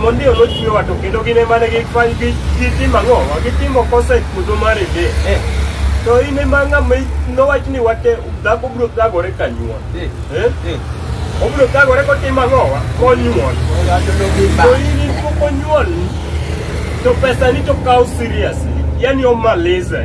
Mondio nochwewa to kendo gin ema ne gifwany gi gitimo ang'o? Gitimo kosa e puodho mar Eden. Eh. To in ema ng'ama i- nowach ni wate dhako biro thagore ka nyuol. Eh. Eh? Eh. Obiro thagore kotimo ang'o? wa? Konyuol. Ng'ato nogi To ba. in in pok onyuol to pesa ni to kaw seriously. Yaani omaliza.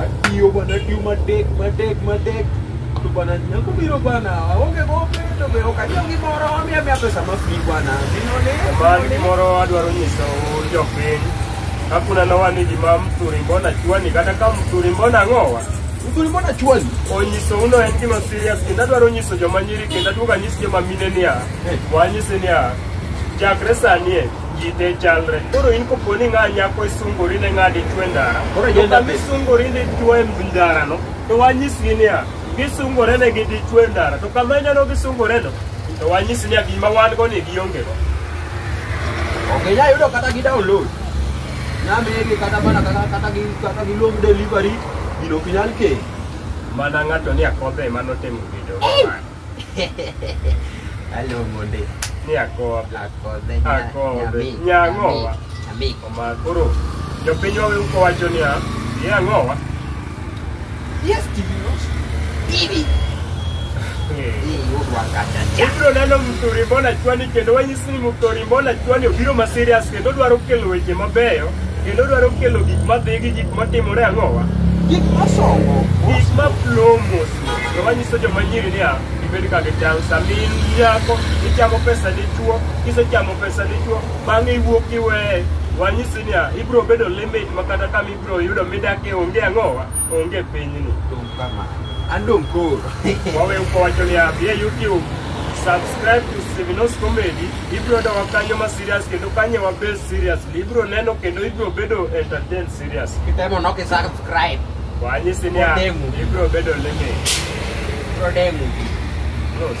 Atiyo bana tiyo matek matek matek to bana nyako biro bana aonge gope to be ok anyiew gimoro omiya miya pesa ma free bana ginone Bali gimoro adwaro nyiso jopiny kakuna nowa ni gima msuri mbona chwani kata ka msuri mbona ng'owa uzuri mbona chwani onyiso uno en gima serious kendo adwaro nyiso joma nyiri kendo aduogo anyis joma mine niya wanyise niya chakre sani e ji te chalre. Koro in kopo ni ng'a nyako isungori ne ng'a dichwo e ndara, Koro to agenda kama be. isungori ni dichwo e ndarano, to wanyisgi niya, gisungore ne gi dichwo e ndara, to kama ineno gisungoreno, to wanyisi niya gima wan go ni giongego. Ok inyal yudo kata gi download. Nyamigi kata mana kata kata gi kata gi long delivery gino ok inyal kei. Mana ng'ato ni akodhe ema notimo video. aluongo ndi ni akodhe akodhe Akodhe. Nyang'owa. nyamik oma koro jopinywa wew kowacho niya ye ang'owa yes tv watch tv Eh. hii udwa kata cha ibiro neno mtori mbona chwani kendo wanyisi ni mtori mbona chwani obiro ma serious kendo dwaro kelo weche mabeyo kendo dwaro kelo gik madhi gi gik matimore ang'owa gik masongo gik ma flow mos Joma nyiso joma nyiri niya, gibed ka gitang' sama in nyako, ichamo pesa dichwo, kisechamo pesa dichwo, bang'e iwuok iweye. Wanyisi niya, ibiro bedo limit ma kata kama ibiro yudo midakie onge ang'owa, onge pinyni. Dong' kama. An dong' koro. Waweyo kwacho niya, bi e YouTube, subscribe to Sevinos Comedy, ibiro yudo wakanyo ma serious kendo kanyo wabed seriously, ibiro neno kendo ibiro bedo entertained seriously. Kitemo nok isar Right. Wanyisi ni Odemu. ibiro bedo limit. Prodemu. Close.